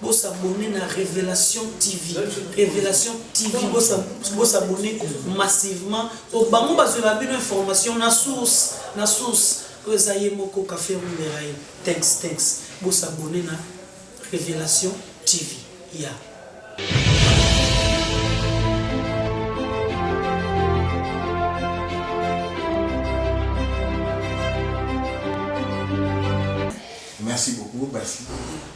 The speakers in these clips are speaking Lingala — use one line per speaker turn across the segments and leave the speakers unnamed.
Bo s'abonner na revelation TV revelation TV bo sa bo s'abonner massivement po bango bazwela bino information na source na source oyo eza ye moko café rumbera ye thanks thanks bo s'abonner na revelation TV ya yeah.
Merci beaucoup, merci.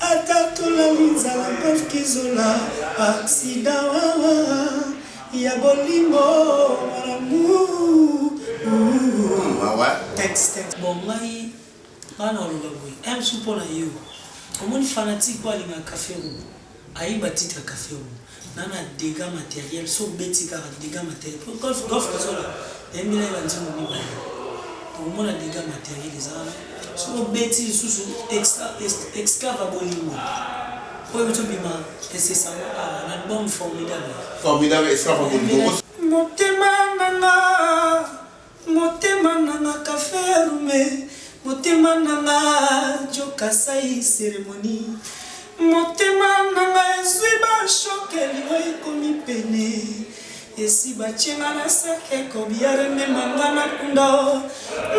Ata tolali nzala pef kizola accident wawa ya bolingo mon amour texte. Bon ngai ngai nakoloba boye Msu pona yo omoni fanatique oyo alingaka caferoum ayiba titre ya caferoum. na na degat materiel so obeti kaka degat materiel po golf golf tozo loba na yembi naye ba nzembo mibale okomona degat materiel eza wana soki obeti lisusu extra exclave bolingo oyo biso bima incessamment awa ah, na album formidable formidable exclave
bolingo motema nanga
Motema nanga cafe rume motema nanga djo kasai ceremonie motema nanga ezui ba choc liwa ekomi pene esi batie nga na cercle corbillard emema nga na kunda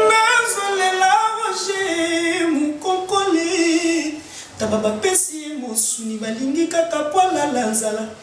nazo lela roger mukonkole taba bapesi ye mosuni balingi kaka po alala nzala.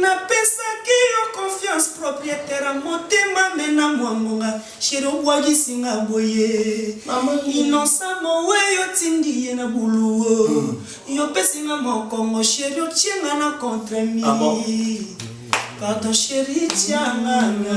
Napesaki yo confiance proprietaire ya motema mais na mua ngonga cheri obuakisi nga boye Innocent mowe yo tindi ye na buluwo Yo pesi nga mokongo cheri otie nga na contre mur Pardon cheri tia nga na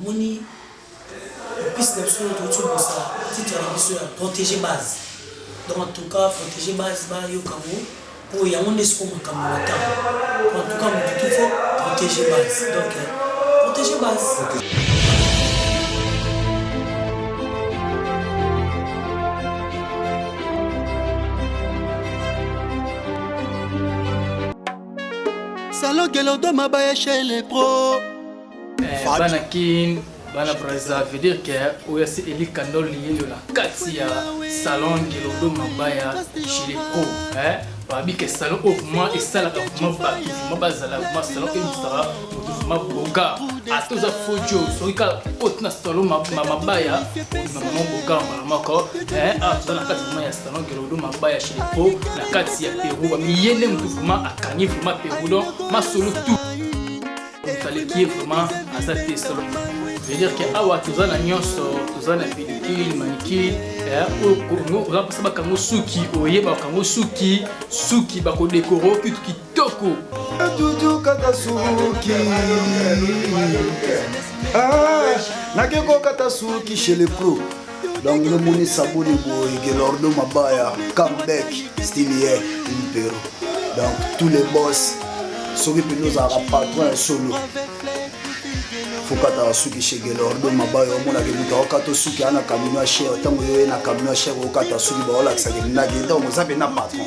Omoni epice na biso touti kosa titre na biso ya proteger base donc en tout cas proteger base ba yoka ngo po yango nde siko makambo na temps po en tout cas moto tout faut proteger base donc proteger base
salongelodoma baeshele pro Eh, bana
kin bana braza veut dire que oyo asi eli kandol liyeyo na kati ya salon ngelodo mabaya chileko eh? babi ke salon oyo vraimen esalaka vraimen bato vraimen bazala vraimen salon emusaka moto vraimen boga ata oza fojo soki kaka koti na salon mabaya obima vraimen boga mbala moko eh, awa toza na kati vraimen ya salon ngelodo mabaya chileko na kati ya perou bamiye nde moto vraimen akangi vraimen perou don masolo tout Mutalekie vraiment aza te solo veut dire que awa toza na nyonso toza na pellicule manicule eh, oyo kongo oza mposa bakango suki oye bakango suki suki bakodekoro kitu kitoko dudu
kata suki ah, nakekokata suki chez le pro donc nomoni sabuni boye gelordo mabaya comeback stilie impero donc tous les boss soki mpenza ozalaka patron ya solo fokataka suki chez gelordo mabaya omonaka moto akokata osuki ya na camion ya chere ntango yo ye na camion ya chere okata suki baolakisaka minaki ntango oza mpe na patron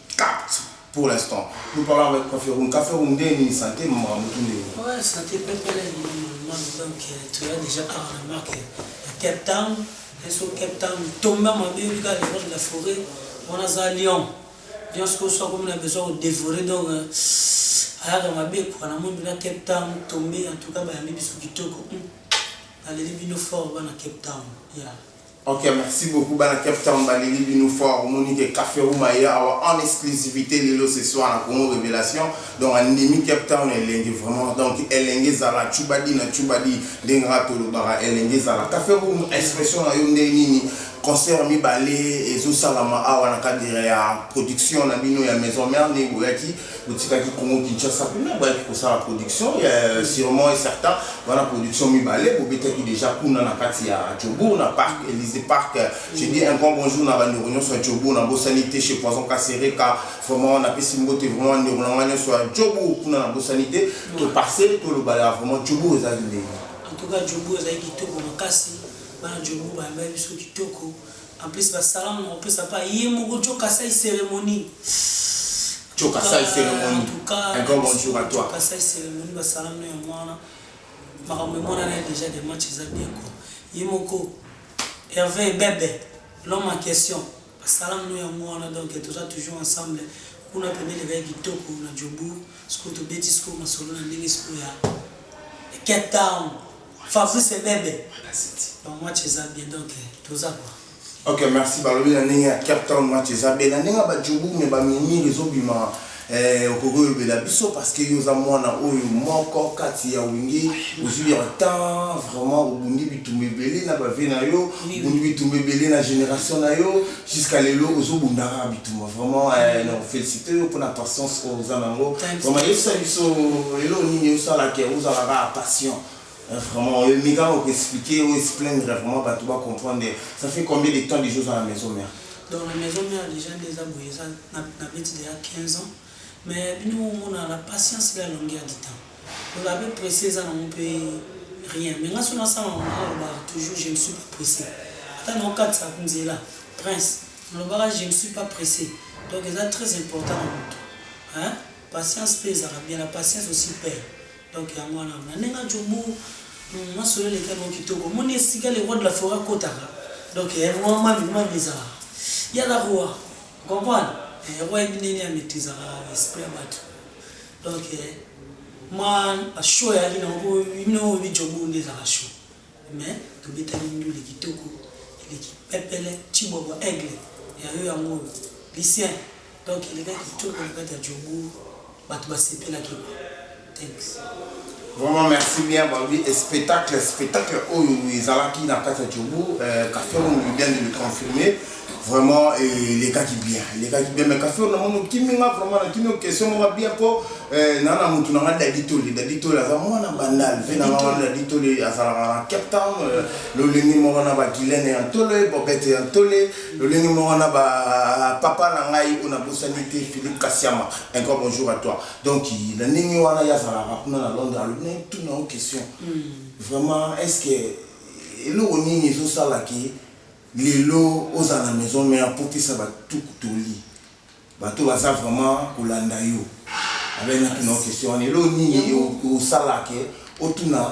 Capt. Pour l'instant nous parlons avec Kaferum, Kaferum nde nini sante ma makambo etindi yo? Ouais sante
pepele normalement donc toya dejà awa na marque ya Cape Town et sur Cape Town tomba mabe oyebi kaka le roi de la foret wana aza lion lion sikoyo so akomi na besoin ko devorer donc ayaka mabe quoi na moni bina Cape Town tombe en tout cas bayambi biso kitoko naleli bino fort bana Cape Town yeah. Ok
merci beaucoup bana cape town baleli bino fort omoni ke caferum aye awa en exclusivite lelo ce soir na congo revelation donc andimi cape town elengi vraiment donc elengi ezala cubadi na cubadi ndenge kaka tolobaka elengi ezala caferum expression na yo nde nini concert mibale ezosalama awa na cadre ya production na bino ya maison mère ndenge boyaki Botikaki Congo Kinshasa kuna boyaki kosala production ya sûrement et certain wana production mibale bobetaki dejà kuna na kati ya Jobourg na parc Elysee Parc je dis un grand bonjour na bandeko nyonso ya Jobourg nabosani te chez Poison Kasereka vraiment napesi mbote vraiment ndeko na ngai nyonso ya Jobourg kuna nabosani te to passe toloba ya vraiment Jobourg ezalaki ndenge nini? En tout cas Jobourg
ezalaki kitoko makasi bana Jobourg bayambaki biso kitoko. En plus ba salamu nako pesa pa ye moko Djo Kasaï ceremonie. Djo
Kasaï ceremonie. Un grand bonjour à toi. Djo Kasaï ceremonie ba salamu
na yango wana. Makambo emonana ye dejà des matchs eza bien quoi. Ye moko Hervé Ebebe l'homme en question. Ba salamu na yango wana donc toza toujours ensemble. Kuna pembe elekaki kitoko na Djobourg. Sikoyo tobeti sikoyo masolo na ndenge sikoyo ya Cape Town. Fabrice ebebe donc match eza bien donc toza quoi Ok, merci.
Balobi na ndenge ya Cape Town match eza bela ndenge ya bajobu me bamemire ezobima eh, okoki oyobela biso parce que yo oza mwana oyo moko kati ya wenge ozwi ya temps vraiment obundi bitumba ebele na bave na yo Oui, oui. obundi bitumba ebele na génération na yo Jusqu'à lelo ozo bunda kaka bitumba vraiment eh, na felicite yo pona patience oyo oza nango vraiment yebisa biso eloko nini osala ke ozala kaka patient eh, vraiment oyo mika ko expliquer o explaindre vraiment bato ba comprendre ça fait combien de temps déjà oza na maison mère donc na maison mère
déjà nde eza boye eza na beti deja 15 ans mais bino omona la patience la longueur du temps Olobaki presse eza nango pe rien mais nga soki nasala makambo nanga nalobaka toujours je ne suis pas presse ata nao katisa nzela prince nalobaka je ne suis pas presse donc eza très important na mutu hein patience pe ezalaka bien la patience aussi paie donc yango wana na ndenge ya jomo hum masolo eleki yango kitoko omoni esika le roi de la foret akotaka donc eh roi mami mami ezalaka ya la roi comprendre eh roi ayebi ndenge nini a maitrisaka esprit ya batu Donc mua ba show ayaki nango po hymne oyo bi jobourg nde ezalaka show mais tobetaki ndule kitoko eleki pepele tshibwabwa aigle ya yo yango oyo Lucien donc elekaki kitoko na kati ya jobourg batu basepelaki quoi thanks. Vraiment
merci bien balobi spectacle spectacle oyo ezalaki na kati ya Djobu euh, Kafero nous bien de le confirmer vraiment elekaki bien elekaki bien mais Kafero na mono kimi nga vraiment na kimi question moko bien po euh, na na mutu na nga Daddy Tole Daddy Tole aza mwana bandal pe na nga wana Daddy Tole azalaka na Cape Town euh, lolenge moko na ba Guylaine ya Ntole Bobette ya Ntole lolenge moko na ba papa na ngai oyo nabosani te Philippe Kasiama encore bonjour à toi Donc na ndenge wana ye azalaka kuna na Londres alobi na ye tuna yo question vraiment est ce que eloko nini ezo sala ke lelo ozala na maison mère po pesa ba tuku toli bato oyo baza vraiment kolanda yo abele na tuna yo question wana eloko nini eko sala ke otuna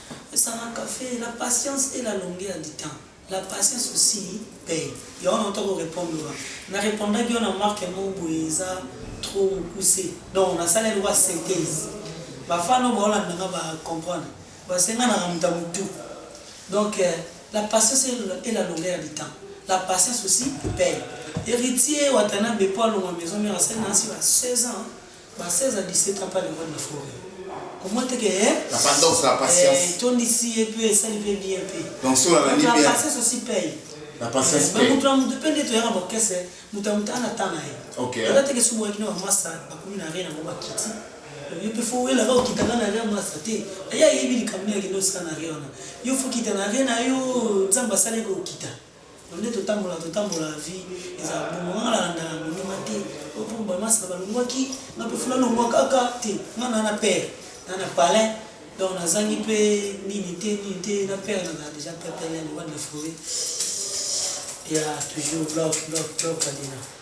Pesa nga cafe, la patience et la longueur du temps, la patience aussi paie, yango na uta ko repondre wana, na repondaki yo na marque moko boye eza trop mukuse, donc na sala ye lokola synthese, ba fan oyo bao landa nga ba comprendre, ba senga naka moto ya mutu, donc la patience et la longueur du temps, la patience aussi paie, Heritier watanabe po alongwa maison mère asali nanga sur ya 16 ans. Ba 16 a 17 ans pas le mois de la foret Comment te que eh? La patience, la
patience. Eh, ton ici et
puis ça lui fait bien un peu. Donc sur la limite. La
patience aussi paye.
La patience eh, paye.
Mais mutu mutu pende to
yaka bokese, mutu mutu ana tana ye. OK. Ata te que
subo kino
mama sa ba kumi na rien na mama kiti. Yo pe fo wela ka okitanga na rien masa te. Aya yebi likambo ya kino sana rien. Yo fo kitana rien na yo, nzamba sale ko kita. Nde totambola totambola vie ezala bongo nga nalanda na monima te po po ba masta balongwaki nga pe faut nalongwa kaka te nga na na père na na palin donc nazangi pe nini te nini te na père nazala dejà père père ya liwa de foret ya toujours bloc bloc bloc adina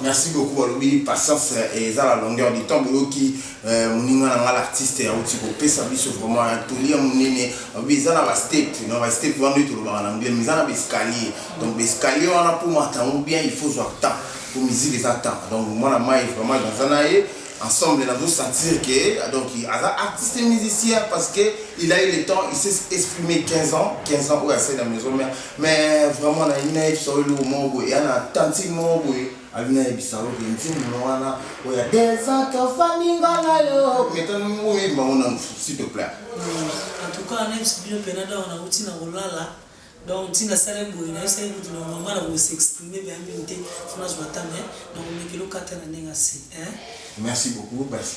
Merci beaucoup balobi patience eza la longueur du temps boyoki muninga na nga l'artiste awuti kopesa biso vraiment un toli ya munene balobi eza na ba step na ba step wana nde tolobaka na anglais mais eza na ba escalier donc ba escalier wana po omata yango bien il faut zwa temps po musique eza temps donc mwana mayi vraiment naza na ye ensemble nazo sentir que donc aza artiste musicien parce que il a eu le temps il s'est exprimé 15 ans 15 ans oyo asali na maison mère Mais vraiment na lingi nayebisa yo eloko moko boye ya na tantine moko boye alingi nayebisa yo ke nzembo wana oyo ya deux ans tofandi nga na yo meta ndenge oyemba yango nanu s'il te plait Hmm, en tout cas
nayebisi bino mpena donc nauti na kolala donc ntina asali boye nayebisaki kutu na mama na boye s'exprime bea mingi te fona azwa ata me na komekeli okata na ndenge asi hein? merci
beaucoup merci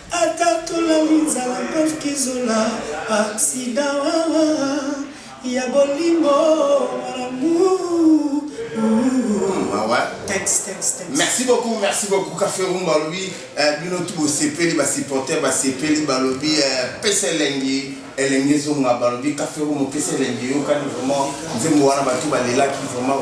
Ata tolali nzala pev kizola accident wawawa ya bolingo mon amour thanks thanks thanks. Merci beaucoup
merci beaucoup cafe room balobi bino tout bosepeli ba supporter basepeli balobi pesa elengi. Elenge zonga balobi kafero mokese elengi eyokani vraiment nzembo wana batu balelaki vraiment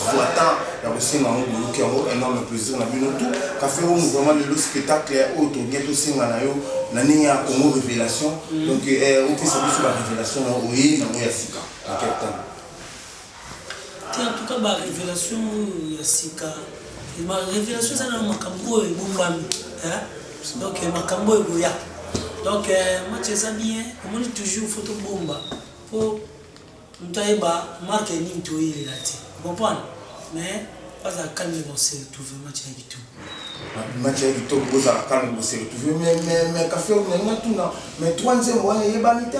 kozwa temps ya kosenga yango boluki yango enorme plaisir na bino tout kafero mu vraiment lelo spectacle oyo toge tosenga na yo na ndenge ya congo révélation donc eh, opesa biso ba révélation na oyo oye nango ya sika na captain
te en tout cas ba revelation oyo ya sika ba revelation eza nanu makambo oyo ebombami donc makambo oyo ekoya donc match eza bien omoni toujours faut tobomba po moto ayeba marke nini toyelela te comprendre mais baza calme bose retrouve match ya kitoko match ya
kitoko bozala calme bose retrouve mais mais mais kafe olinga tuna mais 3 nzembo wana eyebani te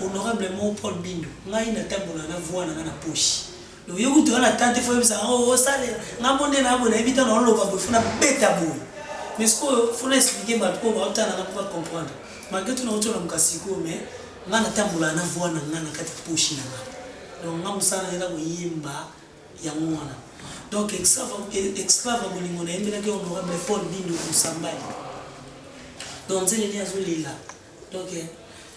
Honorable Mont Paul Bindo ngai na tambola na voix na nga na poche donc yo kutu wana tante faut yebisa nga oh osalela nga mpo nde na boye nayebi ntango na oloba boye faut na beta boye mais sikoyo faut na expliquer bato oyo baotala nga mpo ba comprendre malgré tout na otia na moka sikoyo mais nga na tambola na voix na nga na kati ya poche na nga donc nga mosala na eza koyemba yango wana donc exclave ya bolingo nayembelaki honorable Paul Bindo Osambali donc nzeleli azolela donc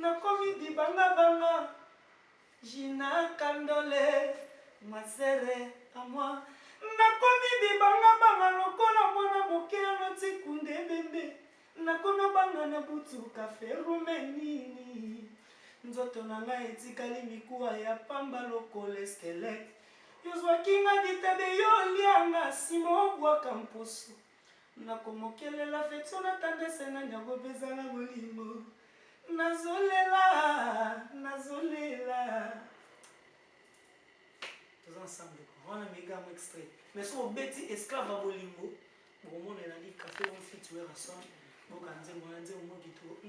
Nakomi bibanga banga Gina kandole Ma sœure à moi Nakomi bibanga banga lokola mwana moke aloti kunde ebembe Nakomi obanga na butu cafe rume nini Nzoto na nga etikali mikuwa ya pamba lokola squelette Y'ozwaki nga bitabe y'olia nga sima obwaka mposo Nako mokelela affection na tendresse nani ako pesa nga bolingo Nazo lela nazo lela Toza ensemble ko wana mega mo extrait mais so obeti esclave ya bolingo bokomona elandi cafe on fit werrason boka nzembo na nzembo mo kitoko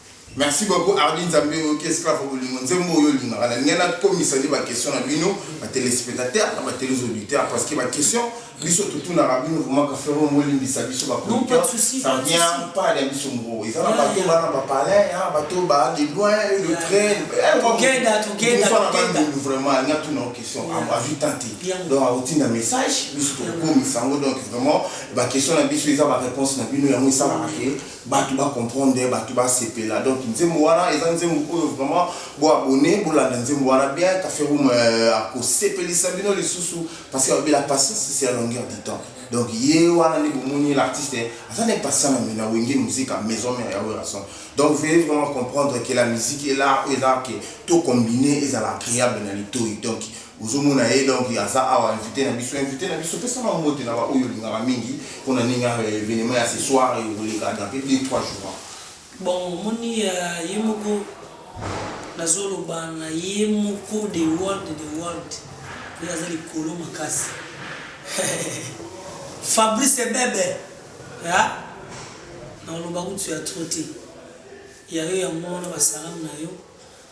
Merci beaucoup
Hardy Nzambe oyoki esclave ya bolingo nzembo oyo olingaka na lingai na komisa nde ba question na bino ba telespetateur na ba teles auditeur parce que ba question biso to tunaka bino vraiment ka ferro mo limbisa biso ba chroniqueur sa
vient pas ya
biso moko eza na bato ba na ba palais ya bato ba de loin et de près togeda togeda togeda vraiment alinga tuna o question a vu tante donc aotinda message biso to komisa yango donc vraiment ba question na biso eza ba réponse na bino yango esalaka ke Batu ba comprendre batu ba sepela donc nzembo wana eza nzembo oyo vraiment bo abonne bo landa nzembo wana bien kaferum ako sepelisa bino lisusu parce que alobi la patience c'est la longueur du temps donc ye wana nde bo moni l'artiste aza na impatient na mina wenge musique à maison mère ya werrason donc veuillez vraiment comprendre que la musique est là eza que to combiner ezala agreable na litoyi donc Ozo mona ye donc aza awa invite na biso invite na biso pesa bango mbote na ba oyo olingaka mingi pona ndenge ya evenement ya ce soir et okoleka dans pe deux trois jours. Bon omoni
ye moko nazo loba na ye moko the world the world ye aza likolo makasi Fabrice ebebe ya na oloba kutu ya trop te ya yo yango wana ba salamu na yo.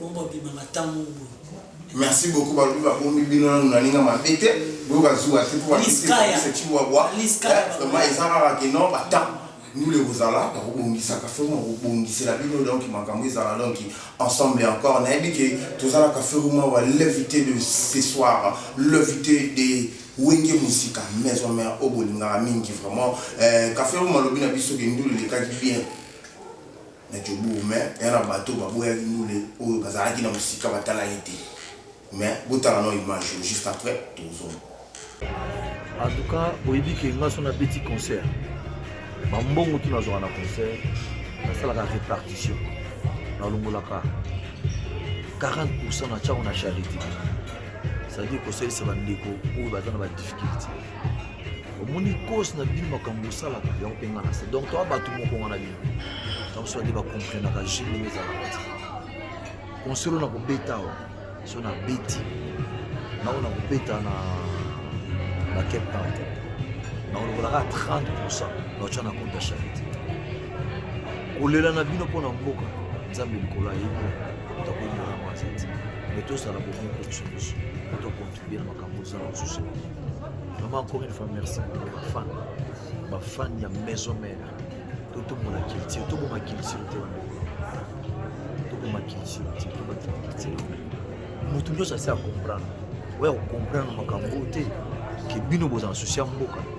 Bongo abima na tango oyo boye. Merci
beaucoup balobi babomi bino nanu na ninga mabe te boyoka zuwa te po babisa chiwabwa vraiment eza kaka ke non bata ndule kozala bakobongisaka feruma kobongisela bino donc makambo ezala donc ensemble et encore nayebi ke tozalaka feruma wa l'invité de ce soir l'invité de wenge mosika maison mère oyo bolingaka mingi vraiment kaferuma alobi na biso ke ndule elekaki bien na Jobourg mais eza na bato oyo baboyaki ndule oyo bazalaki na mosika batala ye te mais botala nao image oyo juste après tokozonga.
En tout cas, boyebi ke nga so nabeti concert bambongo tu nazwaka na concert nasalaka répartition nalongolaka 40 pourcent na tiango na charité c'est-à-dire kosalisa bandeko oyo baza na badifficulté omoni cause na bino makambo osalaka yango mpe nga nasa donc toa bato mokonga na bino ntango soki ade bakomprenaka je ndenge ezalaka te konsolo na kobeta awa so na beti nao na kobeta na na cape town naolokolaka 30 pourcent naotya na compte ya charité kolela na bino mpo na mboka nzambe likolo ayebi takoyinaka maza te me tozala bomi komiso nyonso po tokontribue na makambo kozala lisusu vraiment encore une fois merci beaucoup bafan bafan ya maison mère totomona culture toboma culture te wana toboma culture te toboma culture moto nyonso asi acomprendre oyo acomprendre makambo oyo te ke bino bozala susi ya mboka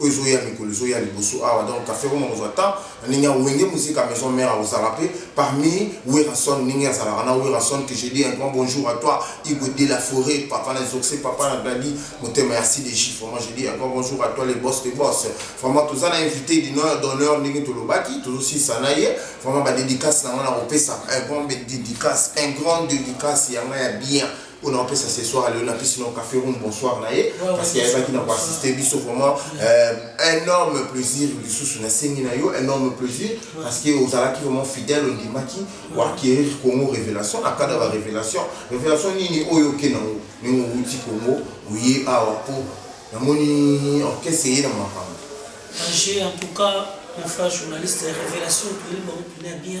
oyo ezoya mikolo ezoya liboso awa donc ka ferro nakozwa temps na ndenge ya wenge musique à maison mère akozala pe parmi werrason ndenge azalaka na werrason que je dis un grand bonjour à toi igwe de la foret papa na zoxe papa na gladi motema ya cdj vraiment je dis un grand bonjour à toi les boss de boss vraiment toza na invité du nord d'honneur ndenge tolobaki tozosisa na ye vraiment ba dédicace na nga na kopesa un grand dédicace un grand dédicace ya nga ya bien oyo na opesa ce soir lelo na pisi na okaferum bonsoir na ye parce que ayebaki na koassiste biso vraiment euh, un homme plaisir lisusu nasengi na yo un homme plaisir parce que ozalaki vraiment fidèle ondimaki oacquérir congo révélation na cadre ya barévélation révélation nini oyo oke nango ndenge owuti congo oye awa mpo namoni orchestre eye na makambo en tout cas mon frère journaliste révélation
toyeli bango mpena bien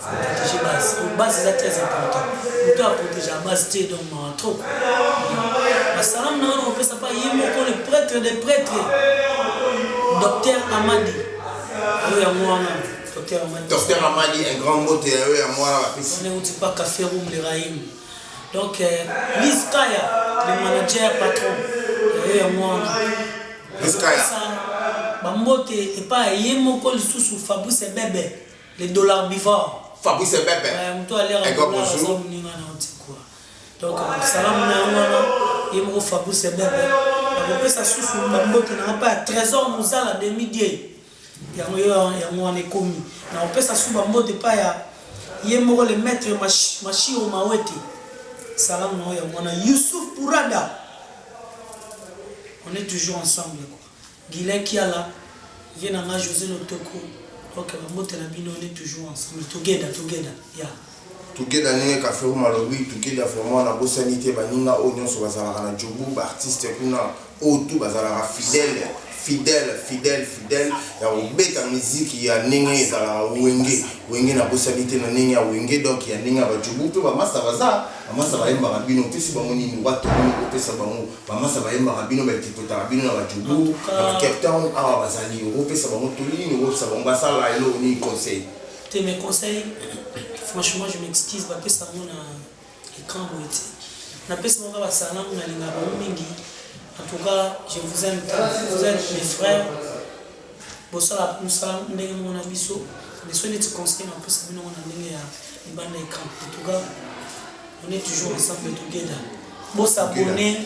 proteger base donc base eza très important moto a proteger base te donc mawa trop basalamu na wana kopesa pa ye moko le prêtre de prêtre docteur amadi oyo yango wana docteur
amadi un grand mbote ya oyo yango wana bapesi on euti pa
café roum le raïm donc euh, liz kaya le manager patron ya oyo yango wana bambote epai ye moko lisusu fabrice bebe Le dollarnivore. Fabrice Ebebe. Eh,
moto alera Ego dollar aza
bonjour. moninga na otikwa. Donc salamu na yango wana ye moko Fabrice Ebebe nakopesa susu bambote na ngai pa ya Trésor Muzala demi die yango yo- yango wana ekomi nakopesa susu bambote pa ya ye moko le maître Mashi- Mashiro Mawete salamu na yo yango wana Youssouf Pourada on est toujours ensemble quoi. Guylain Kiala, vieux na nga Jose Lotoko, ok ba mbote na bino, on est toujours ensemble, together, together, yeah. Together
ndenge Kaferum alobi, together vraiment na bosani te baninga oyo nionso bazalaka na Jobourg, ba artistes kuna oyo tout bazalaka fidèle, fidèle, fidèle, fidèle ya kobeta musique ya ndenge ezalaka Wenge, Wenge na bosani te na ndenge ya Wenge donc ya ndenge ya ba Jobourg pe ba masta baza, ba masta bayembaka bino opesi bango nini, wapi bino bopesa bango. Ba masta bayembaka bino ba etripotaka bino na ba djoubou na ba cape town awa bazali oko pesa bango toli nini oko yebisa bango
basala
eloko nini conseil. Te mais
conseil
franchement
je m'excuse ba pesa yango na ecran boye te na pesa bango kaka ba sala namu na lingaka bango mingi en tout cas je vous aime tant vous etes mes frères Bosala musala ndenge moko na biso mais soki neti conseil na pesa bino ngo na ndenge ya libanda ecran en tout cas on est toujours ensemble together bo s'abonner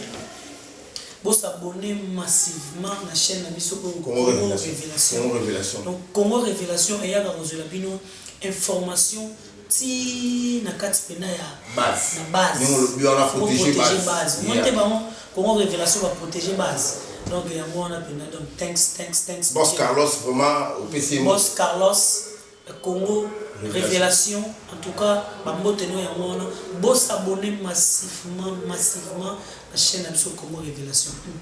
bo s'abonner massivement na chaine na biso oyo Congo Revelation donc Congo Revelation eyaka kozwela bino information ti na kati pena ya base na base ndenge olobi wana protege
base base yeah. monte bango
Congo revelation ba protege base donc yango wana pena donc thanks thanks thanks boss Carlos
vraiment opesi boss Carlos
Congo révélation en tout cas bambote no yango wana bosabone massivement massivement na chaîne na biso Congo révélation hmm.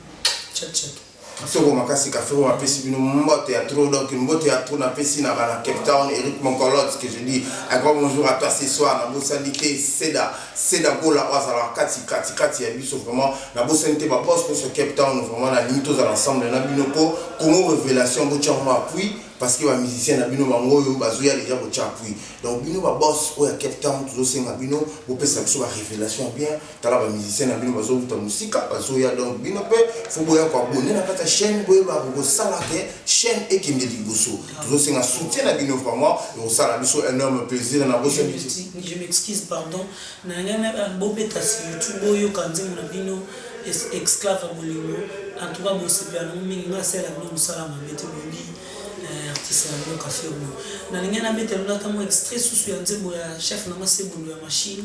ciao ciao Soko
makasi kafero na pesi bino mbote ya trop donc mbote ya trop na pesi na bana cape town Eric Moncolot que je dis un grand bonjour à toi ce soir na bosani te Seda Seda Gola oyo azalaka kati kati kati ya biso vraiment na bosani te ba boss nionso ya cape town vraiment na lingi tozala ensemble na bino po Congo revelation botia ngo appui parce que ba musiciens na bino bango oyo bazoya dejà kotia appui donc bino ba boss oyo ya cape town tozo senga bino bopesa biso ba revelation ya bien tala ba musicien na bino bazowuta mosika bazoya donc bino mpe fo boya koabone na kati ya chaîne boyeba kokosala ke chaîne ekende liboso tozosenga soutien na bino vraiment ekosala biso énorme plaisir na boso je m'excuse
pardon na ngana bobeta si youtube boyoka nzembo na bino esclave ya bolingo en tout cas bosepela nango mingi nga asala bino mosala mabe te boyebi artiste na bino kafirno nalingi nabetela bino ata mwa extrait susu ya nzembo ya chef na masebulu ya machine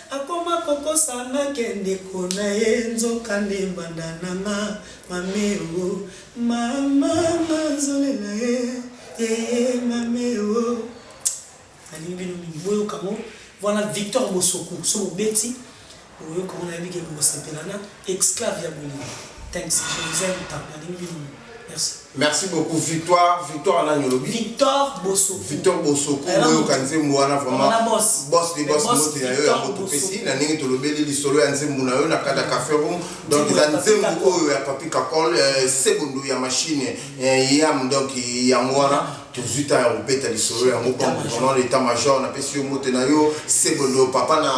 Akoma kokosa nga ke ndeko na ye nzoka nde mbanda na nga mamee oh mama nga nzo lela eh yeye mamee oh nalingi bino mingi boyoka ngo wana Victor Bosoku soki obeti bokoyoka ngo nayebi ke bokosepela na exclave ya bolingo thanks je vous aime tant nalingi bino mingi. Merci. Merci beaucoup
Victoire, Victoire nani olobi? Victor Bosoko.
Victor Bosoko oyo
ka nzembo wana vraiment boss boss de boss moto ya yo ya moto pesi na ndenge tolobeli lisolo ya nzembo na yo na kata café room donc eza nzembo oyo ya Papi Kakol euh, segundu ya machine euh, yam donc yango wana Tozui temps ya kobeta lisolo yango bongo vraiment l'etat major napesi yo mbote na yo Sebondo papa na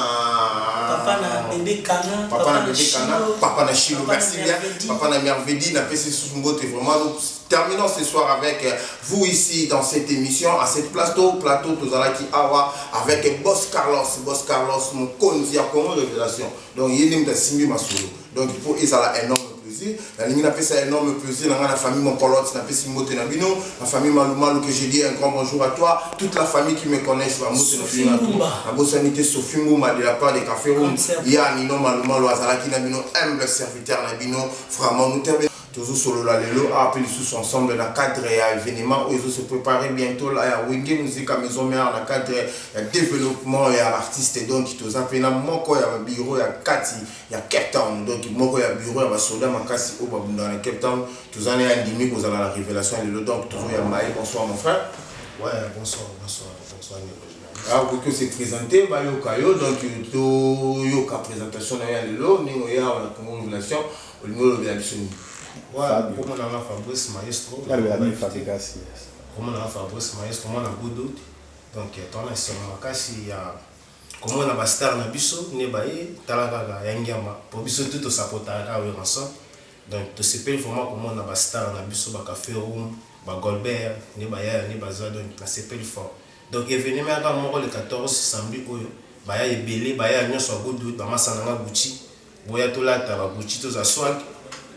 papa na bebe kana
papa na bebe kana papa
na Chilo merci bien papa na Mervedi napesi lisusu mbote vraiment nous terminons ce soir avec euh, vous ici dans cette émission à cette plateau plateau tozalaki awa avec Boss Carlos Boss Carlos mokonzi ya Congo Révélation donc ye nde moto asimbi masolo Donc il faut ezala un homme plaisir nalingi napesa énorme plaisir na ngai na famille monkolote napesi mbote na bino na famille malumalu que je dis un grand bonjour à toi toute la famille qui me connaissent bambote na bino na tout nabosani te sophie ngumba de la part de café room ya nino malumalu azalaki na bino humble serviteur na bino vraiment mutebe tozosolola lelo awa mpe lisusu ensemble na cadre ya événement oyo ezo se préparer bientôt la ya wenge musica maison mère na cadre ya développement ya artiste donc toza mpe na moko ya babiro ya kati ya Cape Town, modoki moko ya bureau ya ba soda makasi oyo babundaka na Cape Town, toza naye andimi kozala na revelation ya lelo donc tozo yamba ye, bonsoir mon frère. Ouais bonsoir
bonsoir bonsoir ndeko journaliste.
Ah okoki ko se presenter bayoka yo donc toyoka presentation nayo ya lelo ndenge oye awa na Congo revelation olingi olobela biso nini? Ouais
kombo na nga Fabrice maestro kombo na nga Fabrice maestro mwana Godoud donc toza na esengo makasi ya Komona ba star na biso nde baye tala kaka ya ngiama po biso tout to sapotaka kaka werrason donc tosepeli vraiment komona ba star na biso ba kaferum ba golbert nde baya ya nde baza donc nasepeli fort donc evenema ya kaka moko le 14 samedi oyo baya ebele baya ya nionso ya goodwood ba masa nanga gucci Boya tolata ba Gucci toza swag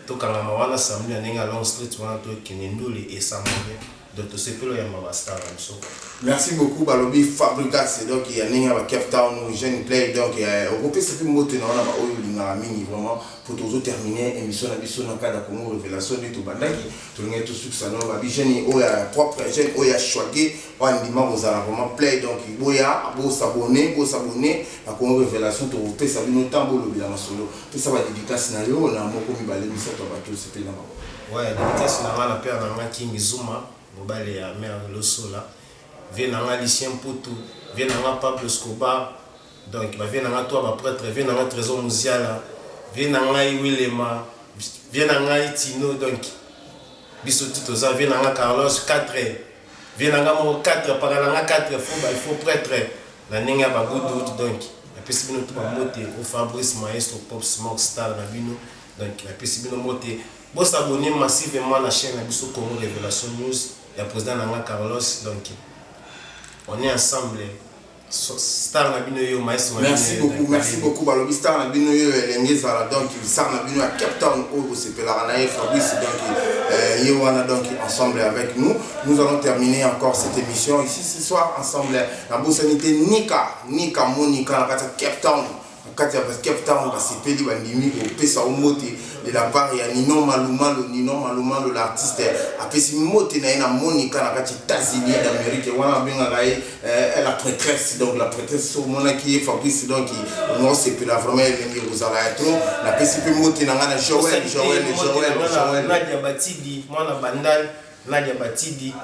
tokangama wana samedi na ndenge ya long street wana to kende ndule esa mabe donc tosepeli oyamba ba star na biso quoi. Merci beaucoup
balobi fabrigas donc ya ndenge ya ba cape town jeune play donc okopesa pe mbote na yo na ba oyo olingaka mingi vraiment po tozo termine emission na biso na cadre ya congo revelation nde tobandaki. Tolingi tosukisa no babi jeune oyo ya propre jeune oyo ya choike oyo andima kozala vraiment play donc boya bosabone bosabone na congo révélation tokopesa bino ntango bolobela masolo pesa badedikasi na yo na moko mibale misato ya bato osepeli na bango ouais dedikasi na nga
na père na nga king zuma mobali ya mère losola vie na nga lucien mputu vie na nga pablo scobar Donc ba vieux na nga toi ba pretre vieux na nga tresor muziala vieux na ngai wilema vieux na ngai tino donc biso tout toza vieux na nga carlos 4 vieux na nga moko 4 paka na nga 4 faut ba faut pretre na ndenge ya ba good hood donc napesi bino tout ba mbote o fabrice maestro pop smoke star na bino donc napesi bino mbote bo s'abonner massivement na chaîne na biso Congo Revelation News ya président na nga Carlos donc on est ensemble star na bino yo maestro na merci bino beaucoup merci beaucoup
balobi star na bino yo elenge ezala donc star na bino ya cape town oyo bosepelaka na ye fabrice donc euh, ye wana donc ensemble avec nous nous allons terminer encore cette émission ici ce soir ensemble na bosani te nika nika monika na kati ya cape town Na kati ya ba Skef tango ba sepeli ba ndimi ko pesa yo mbote de la part ya Ninon Malu Malu, Ninon Malu Malu l'artiste a pesi mbote na ye na Monica na kati Etats-Unis d'Amerique wana ba bengaka ye eh, la pretresse donc la pretresse soki omonaki ye Fabrice donc oko sepela vraiment elengi ekozala ya trop na pesi pe mbote na nga na Joël Joël Joël Joël
Nadia Batidi mwana bandal Nadia Batidi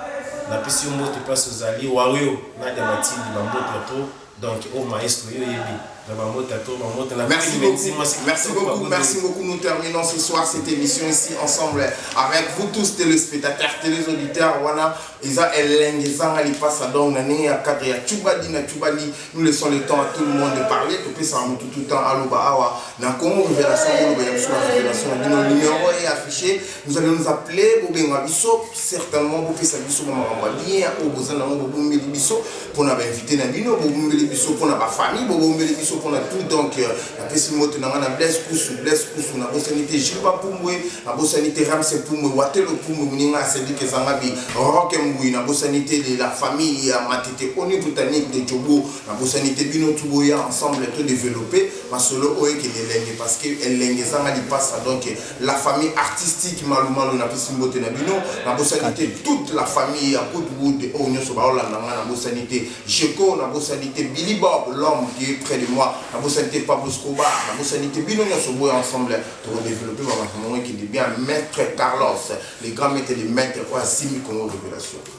na pesi yo mbote place ozali wawew Nadia Batidi ba mbote ya trop donc oh maestro yo oyebi na ba mbote ya trop ba mbote na Merci Queen Menzi
beaucoup, mwasi merci kitoko beaucoup, abondeli. merci beaucoup. Nous terminons ce soir cette émission ici ensemble avec vous tous téléspectateurs, téléauditeurs. Wana eza elengi ezanga lipasa donc na ndenge ya cadre ya Chubadi na Chubadi Nous laissons le temps à tout le monde de parler, topesa mutu tout temps aloba awa na Congo révélation boloba ya biso na révélation na bino numéro est affiché vous allez nous appeler bobenga biso certainement bopesa biso ba makambo ya bien oyo boza nango bobombeli biso mpona bainvité na bino bobombeli biso mpona bafamille bobombeli biso mpona tout donc euh, napesi moto na ngai na blaise kusu blaise kusu nabosani te jilba pumbwe nabosani te ramse pumbwe watelo pumbwe moninga aselike ezangabi roke mbui nabosani te de la famille ya mate te oni kutani de djobo na bosani te bino tout boya ensemble to develope masolo oyo ekende elengi parce que elengi ezanga lipasa donc la famille artistique malu malu na pesi mbote na bino na bosani te toute la famille ya good wood oyo nionso ba olanda nga na bosani te jeko na bosani te billy bob l'homme qui est près de moi na bosani te pablo escobar na bosani te bino nionso boya ensemble toko develope ba makambo ngo ekende bien maître carlos le grand maître de maître oyo asimbi congo révélation